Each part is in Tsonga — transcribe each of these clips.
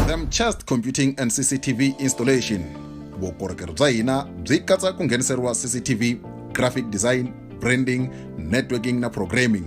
them chest computing and cctv installation vukorhokeri bya hina byi katsa ku ngheniseriwa cctv graphic design branding networking na programming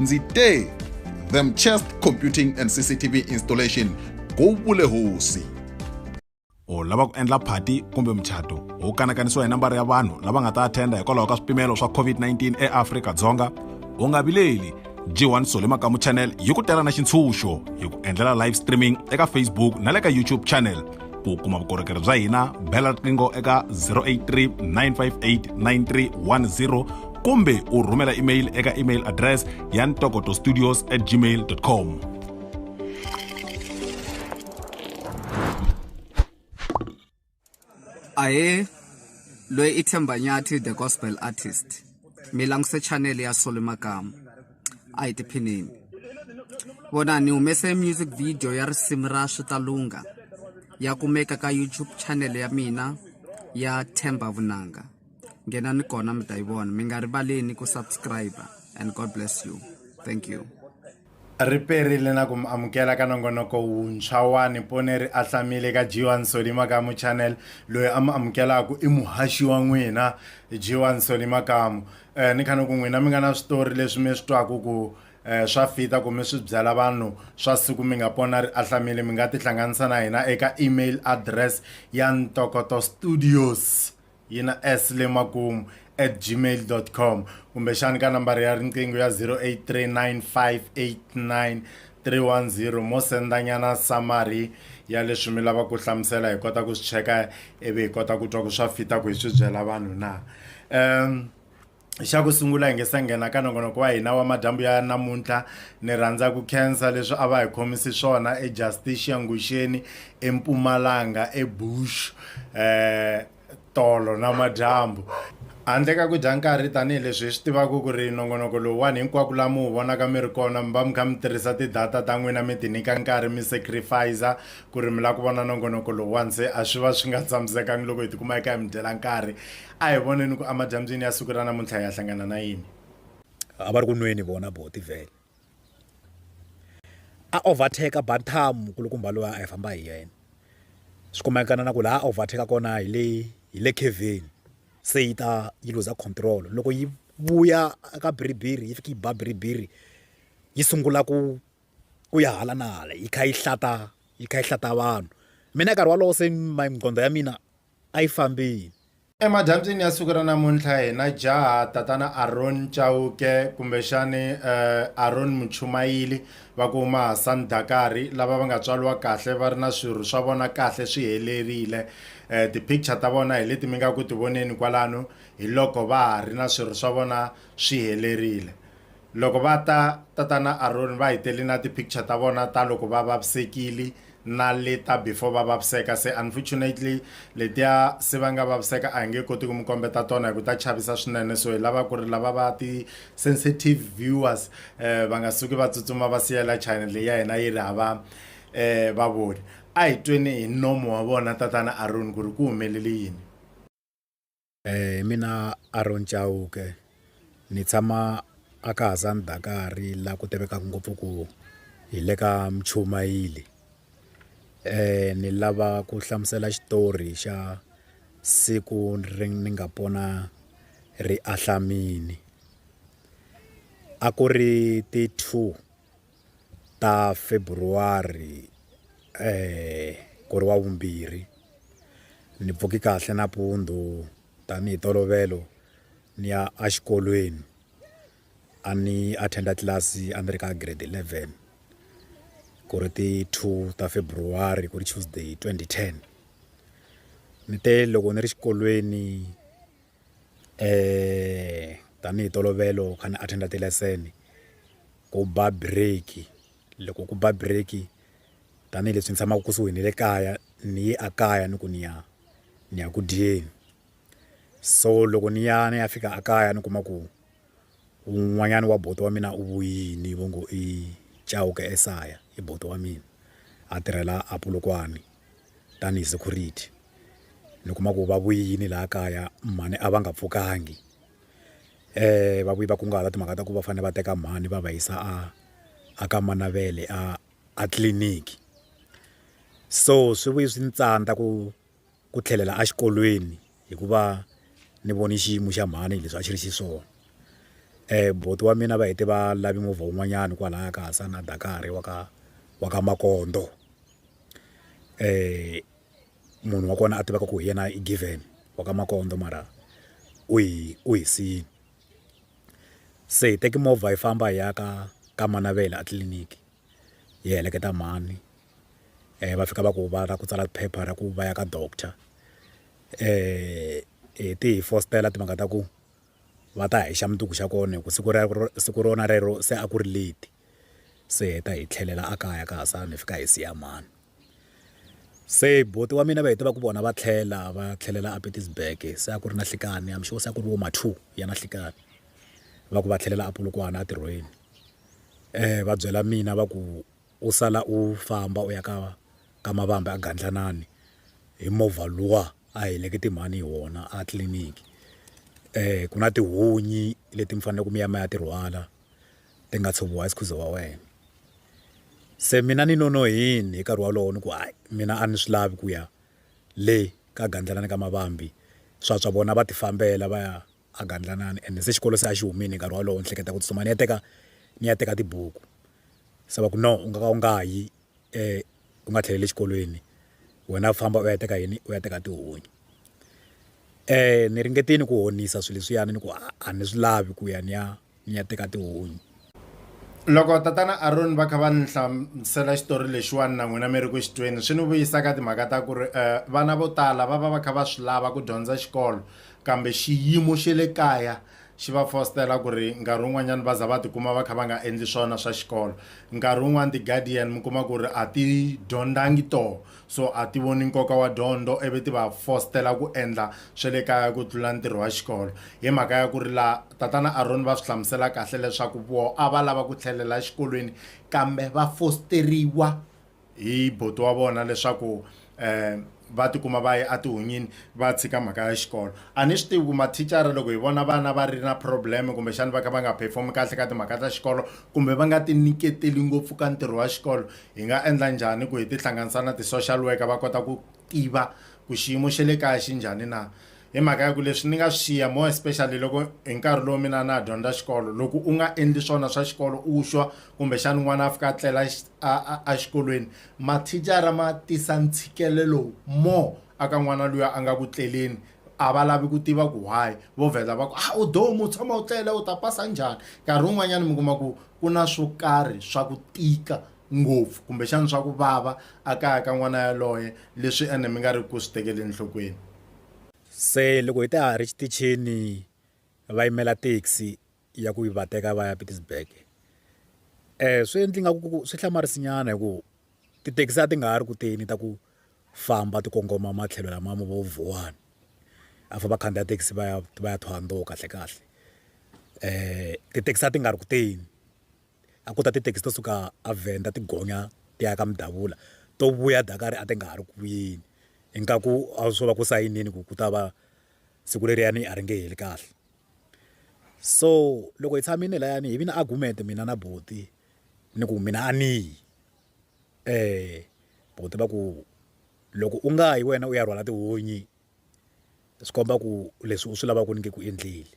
ndzi te them chest computing and cctv installation go vule hosi u lava ku endla phati kumbe muchato wu kanakanisiwa hi nambara ya vanhu lava nga ta athenda hikwalaho ka swipimelo swa covid-19 eafrika-dzonga u nga vileli g1 sole makamu channel yi ku tela na xintshunxo hi ku endlela live streaming eka facebook na le ka youtube channel ku kuma vukorhokeri bya hina bela riqingho eka 083 958 9310 kumbe u rhumela email eka email address ya ntokoto studios at gmail com ahe loyi i themba nyathi the gospel artist mi languse chanele ya sole makamu a hi tiphineni vona ni humese music video ya risimu ra switalunga ya kumeka ka youtube channel ya mina ya themba vunanga nghena ni kona mi ta yi vona mi nga rivaleni ku subscribe and god bless you thank you ri perile na ku mi amukela ka nongonoko wuntshwa wa nipone ri ahlamile ka jiwa nsoli makamu channel loyi a mi amukelaka i muhaxi wa n'wina jiwa nsoli makamu eh, ni khani ku n'wina mi nga na switori leswi mi swi twaku ku eh, swa fita kumbe swi byela vanhu swa siku mi nga pona ri ahlamile mi nga tihlanganisa na hina eka email address ya ntokoto studios yi na s le makumu at gmail com kumbexani ka nambara ya riqingho ya 083958 310 mo senda nyana summary ya leswi mi lava ku hlamusela hi kota ku swi cheka ivi hi kota ku twa ku swa fita ku hi swi byela vanhu na um xa ku sungula hi nge se nghena ka nongonoko wa hina wa madyambu ya namuntlha ni rhandza ku khensa leswi a va hi khomisi swona ejusticia nguxeni empumalanga ebush um tolo na madyambu handle ka ku dya nkarhi tanihileswi hi swi tivaka ku ri nongonoko lowuwani hinkwako laha mi wu vonaka mi ri kona mi va mi kha mi tirhisa ti-data ta n'wina mi ti nyika nkarhi mi sacrifice ku ri mi lava ku vona nongonoko lowuwani se a swi va swi nga tshamisekangi loko hi tikuma hi kha hi mi dyela nkarhi a hi voneni ku emadyambyini ya siku ra namuntlha hi ya hlangana na yini a va ri ku nweni vona bo tivhele a overtake bantam nkulukumba loyi a hi famba hi yena swi kumeka na ku laha overtake kona hi le hi le keveni se yi ta yi luza control loko yi vuya ka biribiri yi fika yi ba biribiri yi sungula ku ku ya hala na hala yi kha yi hlata yi kha yi hlata vanhu mina nkarhi wolowo se my nqondo ya mina a yi fambile. Emadyambyini ya siku ra namuntlha hi na jaha tatana Aaron Chauke kumbexani eh, Aaron Muchumayili va ku huma Hassan Dakari lava va nga tswariwa kahle va ri na swirho swa vona kahle swi helerile eh, ti-picture ta vona hi leti mi nga ku ti voneni kwalano hi loko va ha ri na swirho swa vona swi helerile Loko va ta, tatana Aroni va hi tele na ti picture ta vona ta loko va vavisekile na le ta before va vaviseka se unfortunately letiya se va nga vaviseka a hi nge koti ku mi kombeta tona hi ku ta chavisa swinene so hi lava ku ri lava va ti sensitive viewers eh, va nga suki va tsutsuma va siyela channel leyi ya hina yi ri hava eh, vavoni a hi tweni hi nomo wa vona tatana Aroni ku ri ku humelele yini Hi mina Aaron Chauke ni tshama a ka Hasani Dakari la ku tivekaka ngopfu ku hi le ka Mchumayili ni lava ku hlamusela xitori xa siku ri ni nga pona ri ahlamile a ku ri ti two. ta February ku ri wavumbirhi ni pfuke kahle nampundzu tanihi ntolovelo ni ya a xikolweni a ni attend tlilasi a ni ri ka grade eleven ku ri ti two ta February ku ri Tuesday twenty ten ni te loko ni ri xikolweni. tanihi ntolovelo kha ni attend-a ti-lesson ku ba break loko ku ba break tanihileswi ni tshamaka kusuhi na le kaya ni ye a kaya ni ku ni ya ni ya ku dyeni so loko ni ya ni ya fika a kaya ni kuma ku un'wanyana wa buti wa mina u vuyile va ngo i Chauke esaya i buti wa mina a tirhela a Polokwane. tanihi security ni kuma ku va vuyini laha kaya mhani a va nga pfukangi va vuyi va kunguhata timhaka ta ku va fanele va teka mhani va va yisa a a ka mana va le a a tliliniki so swi vuye swi ni tsandza ku ku tlhelela exikolweni. hikuva ni vone xiyimo xa mhani hi leswi a xi ri xiswona buti wa mina va hete va lave movha wun'wanyani kwalaya ka Hasani na Dakari wa ka wa ka Makondzo munhu wa kona a tivaka ku hi yena i Given wa ka Makondzo mara u hi u hi siyile se hi teke movha hi famba hi ya ka ka Manavela a tliliniki hi heleketa mhani. va fika va ku va lava ku tsala phepha ra ku va ya ka doctor ti hi fositela timhaka ta ku va ta hi xa mundzuku xa kona hi ku siku ra siku rona rero se a ku ri late se hi ta hi tlhelela a kaya ka ha sala ni fika hi siya mhani se buti wa mina va hi tiva ku vona va tlhela va tlhelela a Pietersburg se a ku ri na nhlikani I'm sure se a ku ri vo ma two ya na nhlikani va ku va tlhelela a Polokwane entirhweni va byela mina va ku. U sala u famba u ya ka ka Mavambi a Gandlanani hi movha luwa a helekete mhani hi wona a tliliniki ku na tihunyi leti mi faneleke mi ya mi ya ti rhwala ti nga tshoviwa hi sikhuza wa wena se mina ni nonohile hi nkarhi wolowo ni ku hayi mina a ni swi lavi ku ya le ka Gandlanani ka Mavambi swa swa vona va ti fambela va ya a gandlanani ende se xikolo se a xi humile hi nkarhi wolowo ni hleketa ku tsutsuma ni ya teka ni ya teka tibuku se va ku no u nga ka u nga ha yi u nga tlheleli exikolweni wena famba u ya teka yini u ya teka tihunyi ni ringetile ku honisa swilo leswiyani ni ku a ni swi lavi ku ya ni ya. nya teka tihunyi. Loko tatana Aroni va kha va ni hlamusela xitori lexiwani na n'wina mi ri ku xi tweni, swi ni vuyisa ka timhaka ta ku ri vana vo tala va va va kha va swi lava ku dyondza xikolo kambe xiyimo xa le kaya xi va fositela ku ri nkarhi wun'wanyana va za va tikuma va kha va nga endli swona swa xikolo. Nkarhi wun'wani ti-guardian mi kuma ku ri a ti dyondzangi tona so a ti voni nkoka wa dyondzo ivi ti va fostela ku endla swa le kaya ku tlula ntirho wa xikolo hi mhaka ya ku ri la tatana Aroni va swi hlamusela kahle leswaku voho a va lava ku tlhelela exikolweni kambe va fosteriwa hi buti wa vona leswaku um va tikuma va ye etihunyini va tshika mhaka ya xikolo a ni swi tivi ku mathicara loko hi vona vana va ri na problem kumbexana va kha va nga perform kahle ka timhaka ta xikolo kumbe va nga ti nyiketeli ngopfu ka ntirho wa xikolo hi nga endla njhani ku hi tihlanganisa na ti-social worker va kota ku tiva ku xiyimo xa le kaya xi njhani na hi mhaka ya ku leswi ni nga swi xiya more especially loko hi nkarhi lowu mina na ha dyondza xikolo loko u nga endli swona swa xikolo u xwa kumbexana n'wana a fika a tlela exikolweni mathicara ma tisa ntshikelelo more aka n'wana luya a nga ku tleleni a va lavi ku tiva ku why vo vheta va ku a ah, u domu u tshama u tlele u ta pasa njhani nkarhi wun'wanyana mi kuma ku ku na swo karhi swa ku tika ngopfu kumbexana swa ku vava a kaya ka n'wana yaloye leswi ene mi nga ri ku swi tekeli enhlokweni se loko hi ta ha ri xitichini va yimela taxi ya ku va teka va ya Pietersburg swi endle nga ku swi hlamarisa nyana hi ku tithekisi a ti nga ha ri ku teni ta ku famba ti kongoma matlhelo lama mo Vuwani a va vakhandziya thekisi va ya va ya Thohoyandou kahle kahle tithekisi a ti nga ri ku teni a ku ta tithekisi to suka a Venda ti gonya ti ya ka Mdavula to vuya Dakar a ti nga ha ri ku vuyeni ingaku a swo va ku sayinini ku ku ta va siku leriyani a ri nge heli kahle. so loko hi tshamile layani hi vi na argument mina na buti ni ku mina a ni yi um buti va ku loko u nga yi wena u ya rhwala tihunyi swi komba ku leswi u swi lavaka ku ni nge ku endleli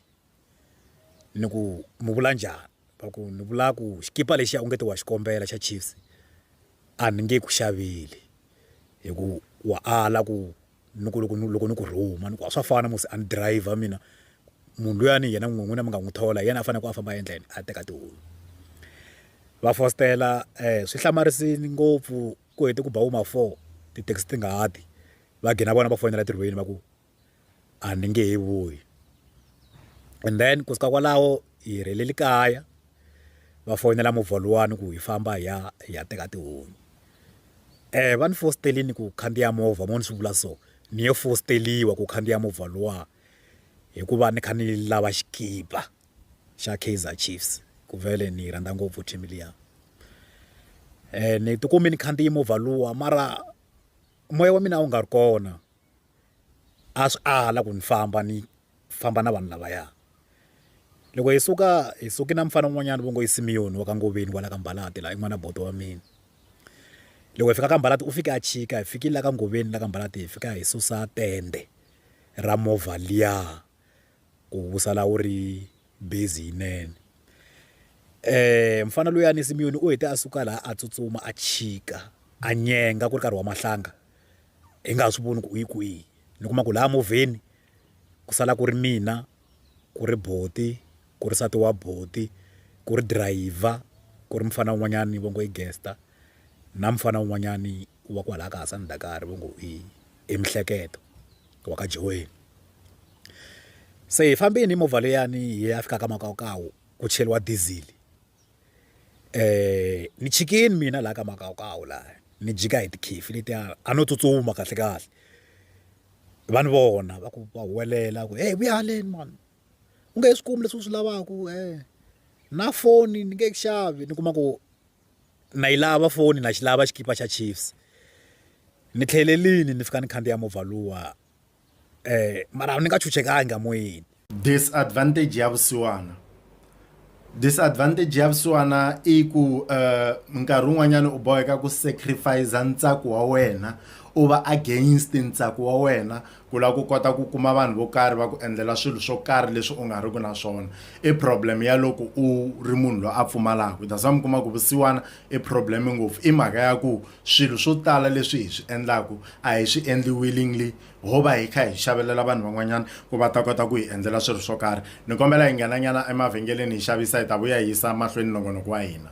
ni ku mi vula njhani va ku ni vula ku xikipa lexiya u nge ti wa xi kombela xa chiefs a ni nge ku xaveli hi ku wa ala ku ni ku loko ni loko ni ku rhuma ni ku a swa fana musi a ni driver mina munhu luyani yena n'wini n'wina mi nga n'wi thola hi yena a faneleke a famba endleni a teka tihunyi va fositela swi hlamarisile ngopfu ku hete ku ba vo ma four ti-taxi ti nga ha ti va gina vona va fonela tirhweni va ku a ni nge he vuyi and then kusuka kwalaho hi helele kaya. va foyinela movha luwani ku hi famba hi ya hi ya teka tihunyi um va ni fositelini ku khandziya movha mo ni swi vula so ni ye fositeliwa ku khandziya movha luwa hikuva ni kha ni lava xikipa xa Kaizer Chiefs ku vele ni yi rhandza ngopfu team liya um ni tikumi ni khandziye movha luwa mara moya wa mina a wu nga ri kona. a swi ala ku ni famba ni famba na vanhu lavaya loko hi suka hi suke na mufana un'wanyana va ngo i Simeon wa ka Ngoveni kwala ka Mbalati laha i n'wana bodo wa mina loko hi fika ka Mbalati u fike a chika hi fikile la ka Ngoveni la ka Mbalati hi fika hi susa tende ra movha liya ku vusala wu ri busy yinene mufana luyani Simeon u hete a suka laha a tsutsuma a chika a nyenga ku ri nkarhi wa mahlanga hi nga ha swi voni ku u yi kwihi ni kuma ku laha movheni ku sala ku ri mina ku ri buti ku ri nsati wa buti ku ri dirayivha ku ri mufana un'wanyani va ngo i Gesta na mufana un'wanyani wa kwalaya ka Hasani Dakari va ngo i Mihleketo. wa ka Joweni. Se hi fambini hi movha leyani hi ya fika ka makawukawu ku cheriwa diesel um ni chikini mina laha ka makawukawu laha ni jika hi tikhifi letiya a no tsutsuma kahle kahle va ni vona va ku va huwelela ku heyi vuya haleni mani u nge he swi kumi leswi u swi lavaka um na foni ni nge yi xavi ni kuma ku na yi lava foni na xi lava xikipa xa Chiefs ni tlhelelini ni fika ni khandziya movha luwa mara ni nga chuchekangi a moyeni. Disadvantage ya vusiwana disadvantage ya vusiwana i ku nkarhi wun'wanyana u boheka ku sacrifice ntsako wa wena u va against ntsako wa wena Ku lava ku kota ku kuma vanhu vo karhi va ku endlela swilo swo karhi leswi u nga riki na swona i problem ya loko u ri munhu loyi a pfumalaka that's why mi kuma ku vusiwana i problem ngopfu i mhaka ya ku swilo swo tala leswi hi swi endlaku a hi swi endli willingly ho va hi kha hi xavelela vanhu van'wanyana ku va ta kota ku hi endlela swilo swo karhi ni kombela hi nghenanyana emavhengeleni hi xavisa hi ta vuya hi yisa mahlweni nongonoko wa hina.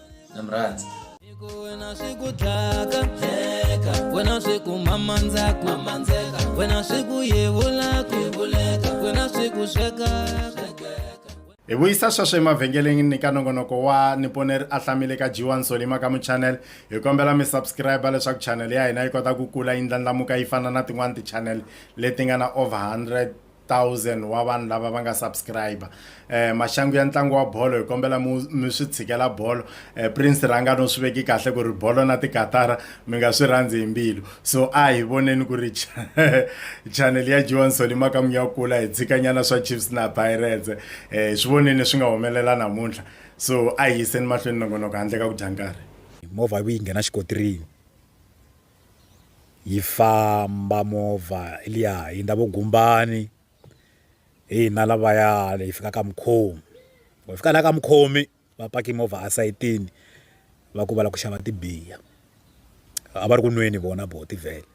na mi rhandza wena swi ku dlaka dleka wena swi ku mamandzaku mamandeka wena swi ku yevulaku yevuleka wena swi ku sweka hi vuyisa sweswo emavhengeleni ni ka nongonoko wa niponeri a hlamile ka jiwa nsolima ka muchanele hi kombela mi subscribe leswaku chanele ya hina yi kota ku kula yi ndlandlamuka yi fana na tin'wani tichanele leti nga na over 100 thousand wa vanhu lava va nga subscribe eh maxangu ya ntlangu wa bolo hi kombela mi swi tshikela bolo eh prince ranga no swi veki kahle ku ri bolo na tikatara mi nga swi rhandzi hi mbilu so a hi voneni ku ri channel ya Joan Solima ka munya kula hi tshikanyana swa Chiefs na Pirates eh swi voneni swi nga humelela namuntlha so a hi yiseni mahlweni nongonoko handle ka ku dya nkarhi movha yi nghena xikotirini yi famba movha liya hi ndza vo gumbani hi hina lavaya hi fika ka mukhomi hi fika la ka mukhomi va paki movha esayitini va ku va lava ku xava tibiya a va ri ku nweni vona bo tivhele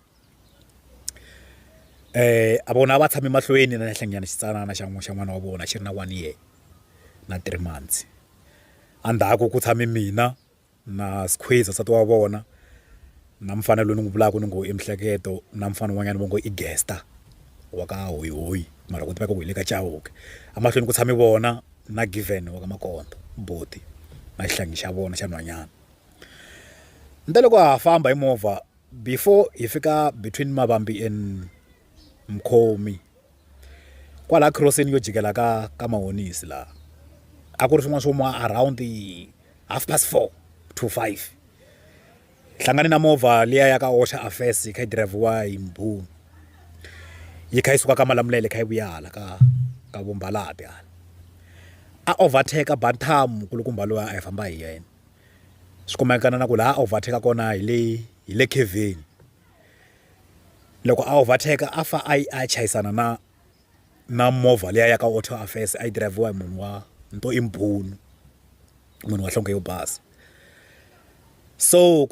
a vona a va tshame mahlweni na henhla nyana xitsanana xa n'wi xa n'wana wa vona xi ri na one year na three months endzhaku ku tshame mina. na Skhweza nsati wa vona na mufana loyi ni n'wi vulaka ni ngo i Mihleketo na mufana un'wanyana va ngo i Gesta wa ka Hoyihoyi mara ku tiveka ku hi le ka Chauke emahlweni ku tshame vona na Given wa ka Makonde buti na xihlangi xa vona xa nhwanyana ni te loko ha famba hi movha before hi fika between Mavambi and Mkhomi. kwala khiroseni yo jikela ka ka mahonisi laha a ku ri swin'wana swo ma around half past four to five hlangane na movha liya ya ka Osha Affairs yi kha yi dirayivhiwa hi mbhunu yi kha yi suka ka Malamulele yi kha yi vuya hala ka ka vo Mbalati hala a overtake bantam nkulukumba loyi a hi famba hi yena swi kumeka na ku laha a overtake kona hi le hi le khaveni. loko a overtake a fa a a chayisana na na movha liya ya ka auto affairs a yi dirayivhiwa hi munhu wa ni to i mbhunu munhu wa nhlonge yo basa so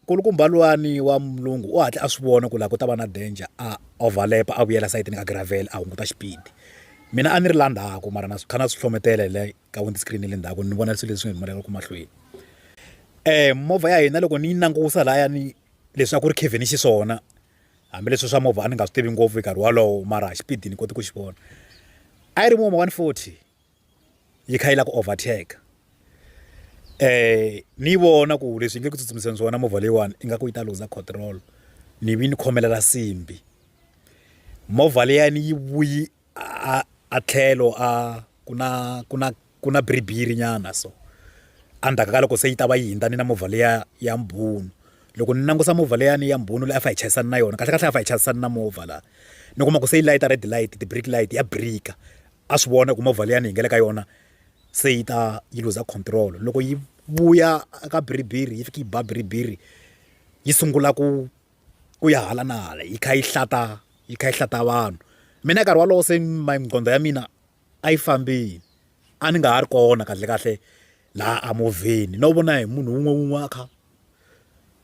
nkulukumba luwani wa mulungu u hatla a swi vona ku laha ku ta va na danger a overlap a vuyela sayitini ka gravel a hunguta xipidi mina a ni ri la ndzhaku mara na swi kha na swi hlohletela hi le ka windscreen ya le ndzhaku ni vona swilo leswi humelelaka mahlweni movha ya hina loko ni yi langusa lahaya ni leswi a ku ri kevin ni xiswona hambileswi swa movha a ni nga swi tivi ngopfu hi nkarhi wolowo mara hi xipidi ni koti ku xi vona a yi ri muma one forty yi kha yi lava ku overtake um ni yi vona ku leswi yi nge ku tsutsumiseni swona movha leyiwani i nga ku yi ta luza control ni vi ni khomelela simbi movha liyani yi vuyi a a tlhelo a ku na ku na ku na bhiriviri nyana so endzhaku ka loko se yi ta va yi hundza ni na movha liya ya mbhunu loko ni langusa movha liyani ya mbhunu leyi a fa hi chayisana na yona kahlekahle a fa hi chayisana na movha laha ni kuma ku se yi layita red light ti-brake light ya birika a swi vona ku movha liyani hi nga le ka yona se yi ta yi looser control loko yi vuya ka bhiriviri yi fika yi ba bhiriviri yi sungula ku. ku ya hala na hala yi kha yi hlata yi kha yi hlata vanhu mina nkarhi wolowo se nqondo ya mina a yi fambile a ni nga ha ri kona kahlekahle laha a movheni no vona hi munhu un'we un'we a kha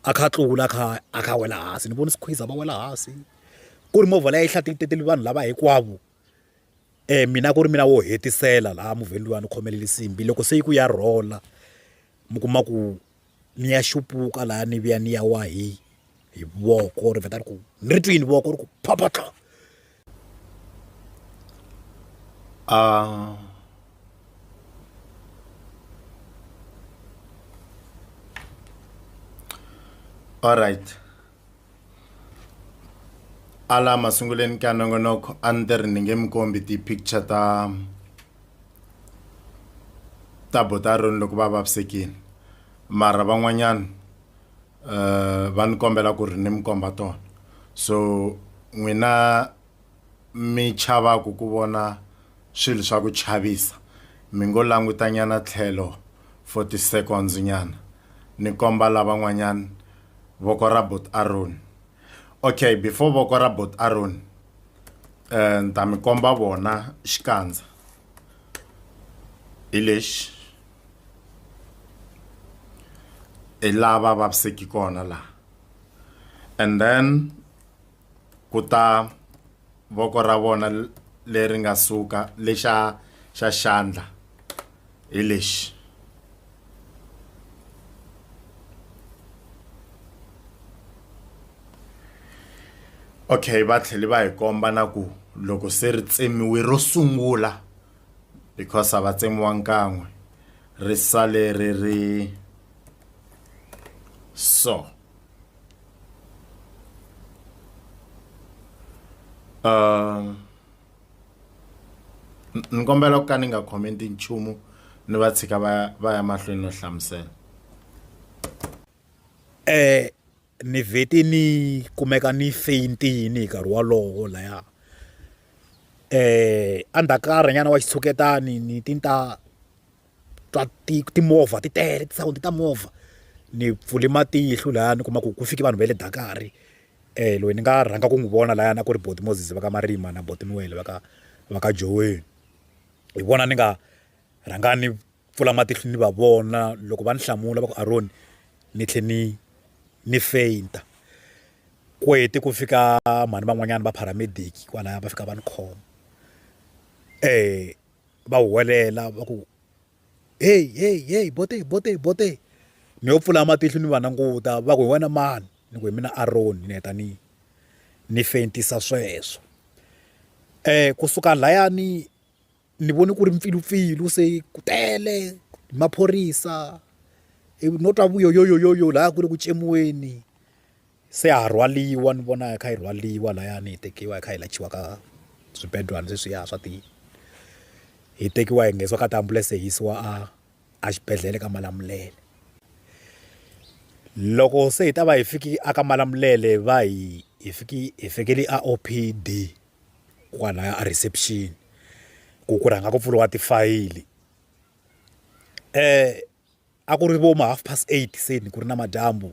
a kha a tlula a kha a kha a wela hansi ni vona swikhweza va wela hansi ku ri movha leyi a yi hlaya titele vanhu lava hinkwavo mina ku ri mina wo hetisela laha movheni luwa ni khomelele nsimbhi loko se yi ku ya rhola mi kuma ku ni ya xupuka laha ni vuya ni ya wa hi hi voko ri vheta ri ku ni ri twini voko ri ku phaphatla a all right ala masunguleni ka nongonoko a ni ri ni nge mi kombi ti-picture ta ta botaroni loko va vavisekile mara van'wanyana um va ni kombela ku ri ni mi komba tona so n'wina. mi chavaku ku vona swilo swa ku chavisa, mi ngo langutanyana tlhelo for ti seconds nyana, ni komba lavan'wanyana voko ra Bot Aroni. Ok, before voko ra Bot Aroni, eh, ni ta mi komba vona xikandza. Hi lexi. Hi laha va vaviseki kona laha. And then, ku ta voko ra vona leri nga suka lexa xa xandla hi lexi okay va tlhele va hi komba na ku loko se ri tsemiwe ro sungula because a va tsemiwa nkan'we ri sale ri ri so Uh, ni kombela ku ka ni nga commenti nchumu ni va tshika va va ya mahlweni no hlamusela eh ni vheti ni kumeka ni feyintini hi nkarhi wolowo laya eh andhakarhi nyana wa xitshuketani ni tinta twa timovha ti tele ti-sound ta movha ni pfule matihlo laya ni kuma ku ku fike vanhu va le Dakar loyi ni nga rhanga ku n'wi vona layani a ku ri buti Moses va ka Marima na buti Noel va ka va ka Joweni hi vona ni nga rhanga ni pfula matihlo ni va vona loko va ni hlamula va ku Aron ni tlhe ni ni faint kwete ku fika mhani van'wanyana va paramedic kwalaya va fika va ni khoma . va huwelela va ku heyi heyi heyi bote bote bote ni yo pfula matihlo ni va languta va ku hi wena mani ni ku hi mina Aron ni heta ni ni fentisa sweswo um kusuka layani ni vone ku ri mpfilumpfilu se ku tele maphorisa no twa vuyoyoyoyo laha ku ri ku tsemiweni. se ha rhwaliwa ni vona hi kha hi rhwaliwa layani hi tekiwa hi kha hi layichiwa ka swibedwana sweswiya swa ti hi tekiwa hi nghenisiwa ka tiambulense hi yisiwa a a xibedhlele ka Malamulele loko se hi ta va hi fiki a ka Malamulele va hi hi fiki hi fikele a O_P_D kwalaya a reception ku ku rhanga ku pfuriwa tifayili . a ku ri vo ma half past eight se ni ku ri na madyambu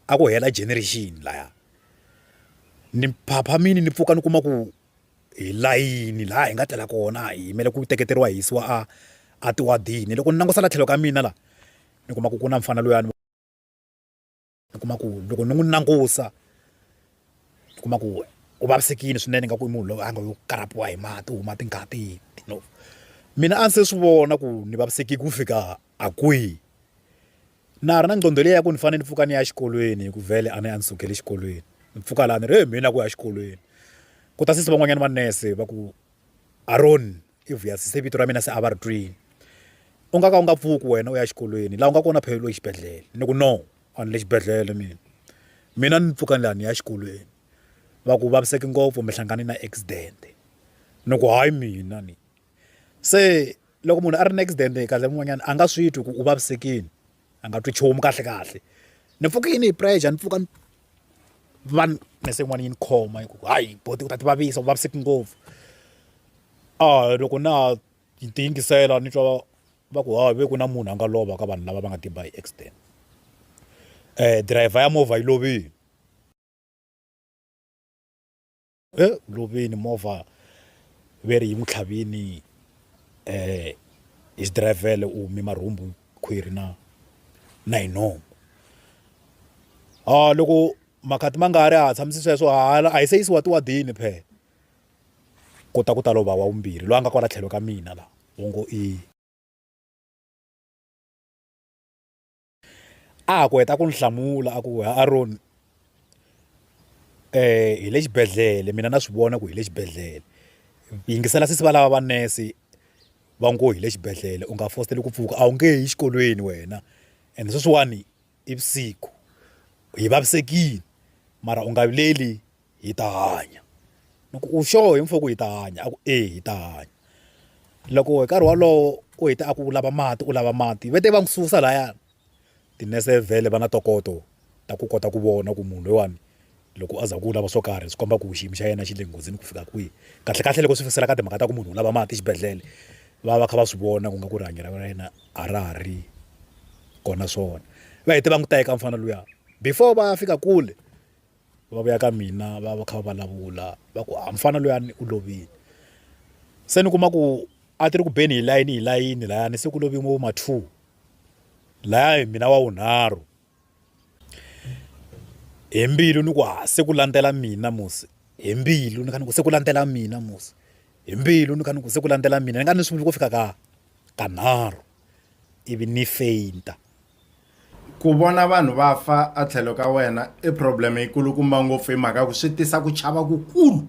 a ku hela generation laya ni phaphamile ni pfuka ni kuma ku hi layini laha hi nga tlela kona hi yimele ku teketeriwa hisiwa a a tiwadini loko ni langusela tlhelo ka mina la ni kuma ku ku na mfana luyani. ni kuma ku loko ni n'wi langusa ni kuma ku u vavisekile swinene nga ku i munhu loyi a nga yo karapiwa hi mati huma tingati you know mina a ndzi se swi vona ku ni vavisekile ku fika a kwihi na ha ri na nqondo leyi ya ku ni fanele ni pfuka ni ya exikolweni hi ku vhele a ni a ni sukele exikolweni ni pfuka laha ni ri he mina ku ya exikolweni ku ta sesi van'wanyana manese va ku Aroni i Vuyasi se vito ra mina se a va ri twini u nga ka u nga pfuki wena u ya xikolweni laha u nga kona phela loyi xibedhlele ni ku no a ni le xibedhlele mina mina ni pfuka ni laha ni ya xikolweni va ku vaviseki ngopfu mi hlangane na accident ni ku hayi mina ni se loko munhu a ri na accident kahle mun'wanyana a nga swi twi ku u vavisekile. a nga twi nchumu kahle kahle ni pfuke yini hi pressure ni pfuka ni va ni humese yin'wana yi ni khoma yi ku hayi buti u ta ti vavisa u vaviseki ngopfu a loko na ha yi tiyingisela ni twa va ku ha ve ku na munhu a nga lova ka vanhu lava va nga tiba hi accident driver ya movha yi lovile. e ku loveni movha ve ri yi n'wi tlhavini um hi xidirayivhele u hume marhumbu khwiri na na hi nomu a loko makhati ma nga ri a ha tshamisi sweswo hala a hi se yisiwa tiwadini phela ku ta ku ta lova wa vumbirhi loyi a nga kwala tlhelo ka mina la u ngo i a ha ku heta ku ni hlamula a ku ha Aroni um hi le xibedhlele mina na swi vona ku hi le xibedhlele yingisela sesi va lava va nurse va ngo hi le xibedhlele u nga fositeli ku pfuka a wu nge yi xikolweni wena and sweswiwani i vusiku hi vavisekile mara u nga vileli. hi ta hanya ni ku u sure hi mfuwo ku hi ta hanya a ku e hi ta hanya loko hi nkarhi wolowo u hete a ku u lava mati u lava mati va te va n'wi susa laya tinese vhele va na ntokoto ta ku kota ku vona ku munhu loyiwani loko a za ku u lava swo karhi swi komba ku xiyimo xa yena xi le nghozini ku fika kwihi kahle kahle loko swi fikisela ka timhaka ta ku munhu u lava mati exibedhlele va va kha va swi vona ku nga ku rihanyo ra yena a ra ha ri kona swona va hete va n'wi teka mufana luya before va ya fika kule. va vuya ka mina va va kha va vulavula va ku a mufana luyani u lovile se ni kuma ku a ti ri ku beni hi layini hi layini layani se ku loviwe vo ma two laya hi mina wa wunharhu hi mbilu ni ku ha se ku landzela mina musi hi mbilu ni kha ni ku se ku landzela mina musi hi mbilu ni kha ni ku se ku landzela mina ni nga ni sunguli ku fika ka kanharhu ivi ni feyinta Ku vona vanhu va fa etlhelo ka wena i problem yi kulukumba ngopfu hi mhaka ku swi tisa ku chava ku kulu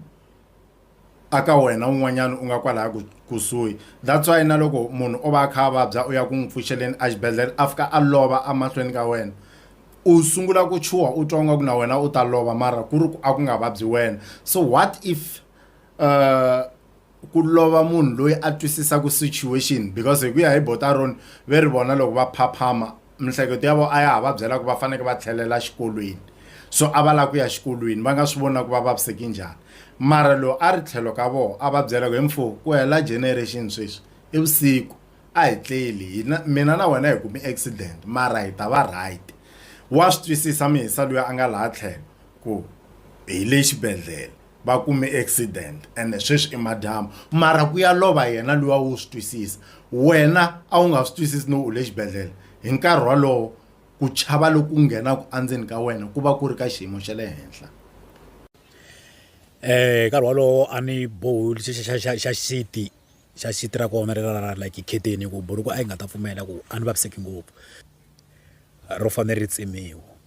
a ka wena un'wanyana u nga kwalaya ku kusuhi that's why na loko munhu o va a kha a vabya u ya ku n'wi pfuxeleni a xibedhlele a fika a lova a mahlweni ka wena u sungula ku chuha u twa nga ku na wena u ta lova mara ku ri ku a ku nga vabyi wena so what if uh ku lova munhu loyi a twisisaka situation because hi ku ya hi botaron ve ri vona loko va phaphama mihleketo ya vo a ya ha va byela ku va faneke va tlhelela xikolweni so a va lava ku ya xikolweni va nga swi vona ku va vaviseki njhani mara lowu a ri tlhelo ka vona a va byela ku hi mfo ku hela generation sweswi i vusiku a hi tleli hina mina na wena hi kumi accident mara hi ta va right wa swi twisisa mihisa loyi a nga laha tlhelo ku hi le xibedhlele va kume accident ene sweswi i madyambu mara ku ya lova yena luwa wo swi twisisa wena a wu nga swi twisisi no u le xibedhlele hi nkarhi wolowo ku chava loku nghenaka endzeni ka wena ku va ku ri ka xiyimo xa le henhla um nkarhi wolowo a ni bohi xa xiti xa xiti ra kona ri ra like kheteni hi ku buruku a yi nga ta pfumela ku a ni vaviseki ngopfu ro fanele ri tsemiwa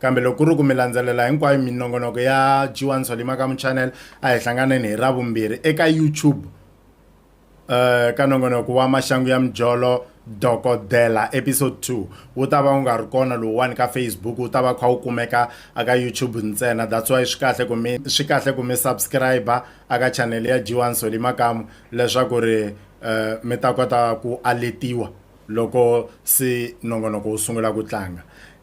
Kambe loko ku ri ku mi landzelela hinkwayo minongonoko ya G1 Solima Kamu Channel, a hi hlanganeni hi Ravumbirhi eka YouTube eh ka nongonoko wa Maxangu ya Mijolo Dokodela episode 2. Wu ta va wu nga ri kona lowuwani ka Facebook, wu ta va wu kha wu kumeka a ka YouTube ntsena. That's why swi kahle ku mi swi kahle ku mi subscribe-a a ka channel ya G1 Solima Kamu leswaku ri eh mi ta kota ku aletiwa loko se nongonoko wu sungula ku tlanga.